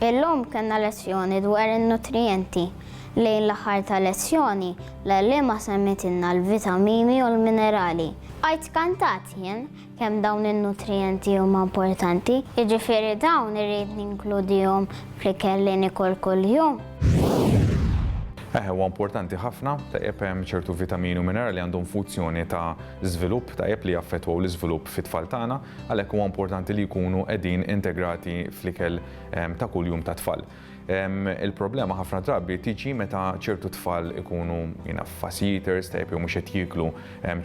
Illum kellna lezzjoni dwar in-nutrijenti. Lejn l-aħħar tal-lezzjoni, l-għalliema semmitilna l-vitamini u l-minerali. Bqajt skantat jien kemm dawn in-nutrijenti huma importanti, jiġifieri dawn irrid ninkludihom fl-ikel li nikol kuljum. Eħe, huwa importanti ħafna, tajjeb hemm ċertu vitamini u minerali li għandhom fuzzjoni ta' żvilupp tajjeb li jaffettwaw l-iżvilupp fit-tfal tagħna. Għalhekk huwa importanti li jkunu qegħdin integrati fl-ikel ta' kuljum tat-tfal. Il-problema ħafna drabi tiġi meta ċertu tfal ikunu fussy eaters, tajjeb jew mhux qed jieklu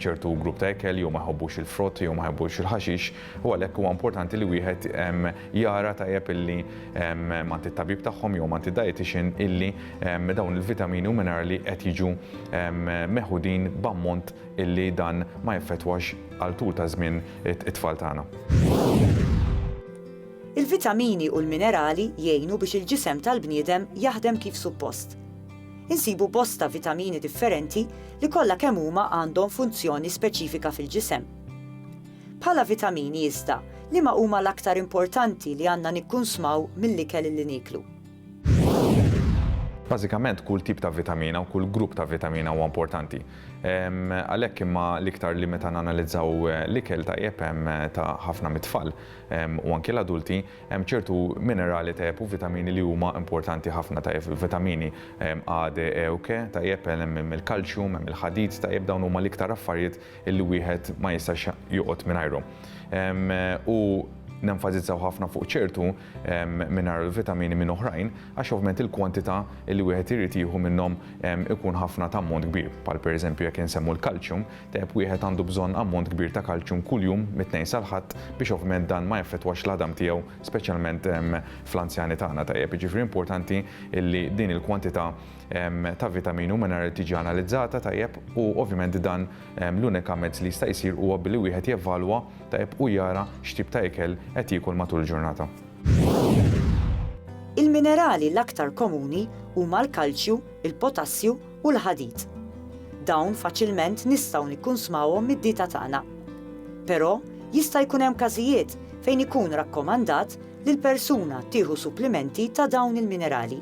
ċertu grupp ta' ikel jew ma jħobbux il-frott jew ma jħobbux il-ħaxix u għalhekk huwa importanti li wieħed jara tajjeb illi m'għand it-tabib tagħhom jew m'għand id-dietician illi dawn il-vitamini u minerali qed jiġu meħudin b'ammont illi dan ma jeffettwax għal tul ta' żmien it-tfal tagħna. Il-vitamini u l-minerali jgħinu biex il-ġisem tal-bniedem jaħdem kif suppost. Insibu bosta vitamini differenti li kollha kemm huma għandhom funzjoni speċifika fil-ġisem. Bħala vitamini iżda, liema huma l-aktar importanti li għandna nikkunsmaw mill-ikel li nieklu? Bażikament kull tip ta' vitamina u kull grupp ta' vitamina huwa importanti. Għalhekk imma l-iktar li meta nanalizzaw l-ikel tajjeb ta' ħafna mit-tfal u anki l-adulti, hemm ċertu minerali tajjeb u vitamini li huma importanti ħafna tajjeb. Il-vitamini A, D, E u K tajjeb, hemm il-kalċjum, hemm il-ħadid tajjeb dawn huma l-iktar affarijiet illi wieħed ma jistax joqgħod mingħajrhom. U nenfasizzaw ħafna fuq ċertu mingħajr il-vitamini minn oħrajn għax ovvjament il-kwantità li wieħed irid jieħu minnhom ikun ħafna ta' ammont kbir. Bħal pereżempju jekk insemmu l-kalċjum, tajjeb wieħed għandu bżonn ammont kbir ta' kalċjum kuljum mit-Tnejn sal-Ħadd biex ovvjament dan ma jaffettwax l-għadam tiegħu speċjalment fl-anzjani tagħna tajjeb. Jiġifieri importanti li din il-kwantità ta' vitamini u minerali tiġi analizzata tajjeb u ovvjament dan l-unika mezz li jista' jsir huwa billi wieħed jevalwa tajjeb u jara x'tip ta' ikel qed jiekol matul il-ġurnata. Il-minerali l-aktar komuni huma l-kalċju, il-potassju u l-ħadid. Dawn faċilment nistgħu nikkunsmawhom mid-dieta tagħna. Però jista' jkun hemm każijiet fejn ikun rakkomandat li l-persuna tieħu supplimenti ta' dawn il-minerali.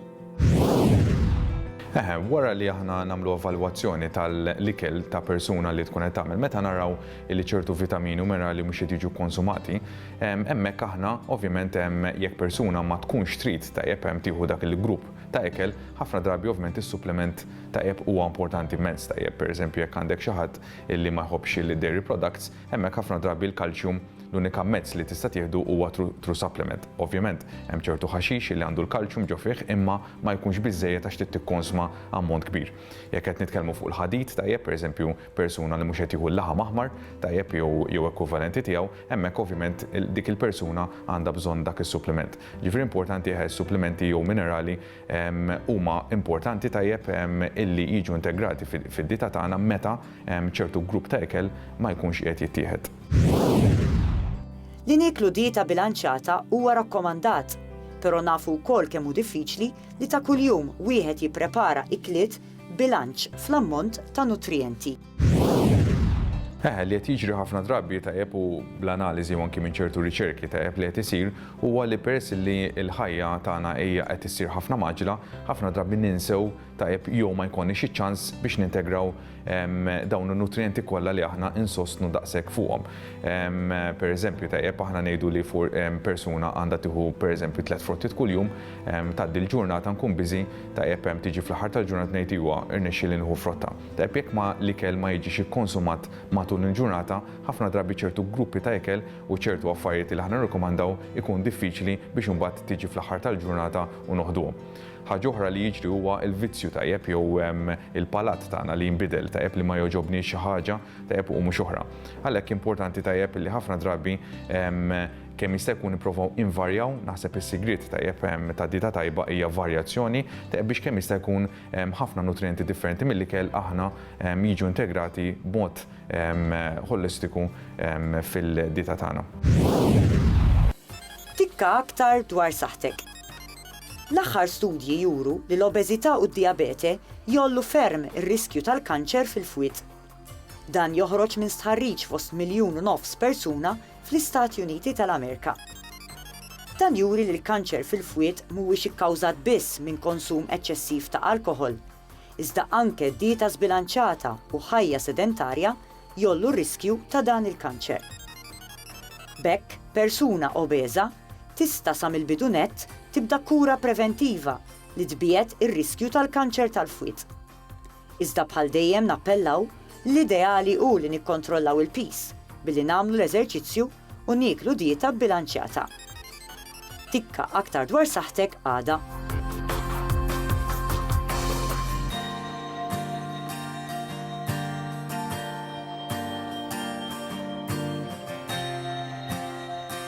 Eħe, wara li aħna nagħmlu evalwazzjoni tal-ikel ta' persuna li tkun qed tagħmel, meta naraw li ċertu vitamini u minerali mhux qed jiġu konsumati, hemmhekk aħna ovvjament jekk persuna ma tkunx trid tajjeb tieħu dak il-grupp ta' ikel, ħafna drabi ovvjament is-supplement tajjeb huwa importanti mezz tajjeb. Pereżempju jekk għandek xi ħadd illi ma jħobbx il-dairy products, Hemmhekk ħafna drabi l-kalċjum l-unika mezz li tista' tieħdu huwa through supplement. Ovvjament, hemm ċertu ħaxix li għandu l-kalċjum ġo fih imma ma jkunx biżżejjed għax trid tikkonsma ammont kbir. Jekk qed nitkellmu fuq il-ħadid, tajjeb, pereżempju, persuna li mhux qed jieħu l-laħam aħmar, tajjeb, jew jew ekwivalenti tiegħu, hemmhekk ovvjament dik il-persuna għandha bżonn dak is-supplement. Jiġifieri importanti eħe s-supplementi jew minerali huma importanti tajjeb illi jiġu integrati fid-dieta tagħna meta ċertu grupp ta' ikel ma jkunx qiegħed jittieħed. Li nieklu dieta bilanċjata huwa rakkomandat, però nafu wkoll kemm hu diffiċli li ta' kuljum wieħed jipprepara ikliet b'bilanċ fl-ammont ta' nutrijenti. Eħe, li qed jiġri ħafna drabi tajjeb u bl-analiżi u anki minn ċertu riċerki tajjeb li qed isir huwa li peress li l-ħajja tagħna hija qed issir ħafna maġla, ħafna drabi ninsew tajjeb jew ma jkollniex iċ-ċans biex nintegraw dawn in-nutrijenti kollha li aħna insostnu daqshekk fuqhom. Pereżempju tajjeb aħna ngħidu li persuna għandha tieħu pereżempju tliet frottiet kuljum, tgħaddi l-ġurnata nkun biżi, tajjeb tiġi fl-aħħar tal-ġurnata ngħid iwa rnexxieli nieħu frotta. Tajjeb jekk ma l-ikel ma jiġix ikkonsumat matul il-ġurnata, ħafna drabi ċertu gruppi ta' ikel u ċertu affarijiet li aħna nirrikomandaw ikun diffiċli biex imbagħad tiġi fl-aħħar tal-ġurnata u noħduhom. Ħaġa oħra li jiġri huwa l-vizzju tajjeb jew il-palat tagħna li jinbidel, tajjeb li ma jogħġobniex xi ħaġa tajjeb u mhux oħra. Għalhekk importanti tajjeb li ħafna drabi kemm jista' jkun nipprovaw invarjaw, naħseb is-sigriet tajjeb ta' dieta tajba hija varjazzjoni, tajjeb biex kemm jista' jkun ħafna nutrijenti differenti mill-ikel aħna jiġu integrati b'mod ħolistiku fil-dieta tagħna. Tikka aktar dwar saħħtek. L-aħħar studji juru li l-obeżità u d-dijabete jgħollu ferm ir-riskju tal-kanċer fil-fwied. Dan joħroġ minn stħarriġ fost miljun u nofs persuna fl-Istati Uniti tal-Amerika. Dan juri li l-kanċer fil-fwied mhuwiex ikkawżat biss minn konsum eċċessiv ta' alkoħol, iżda anke dieta żbilanċata u ħajja sedentarja jgħollu r-riskju ta' dan il-kanċer. B'hekk, persuna obeża tista' sa mill-bidu nett tibda kura preventiva li tbiegħed ir-riskju tal-kanċer tal-fwied. Iżda bħal dejjem nappellaw li l-ideali hu li nikkontrollaw il-piż billi nagħmlu l-eżerċizzju u nieklu dieta bbilanċjata. Tikka aktar dwar saħħtek għada.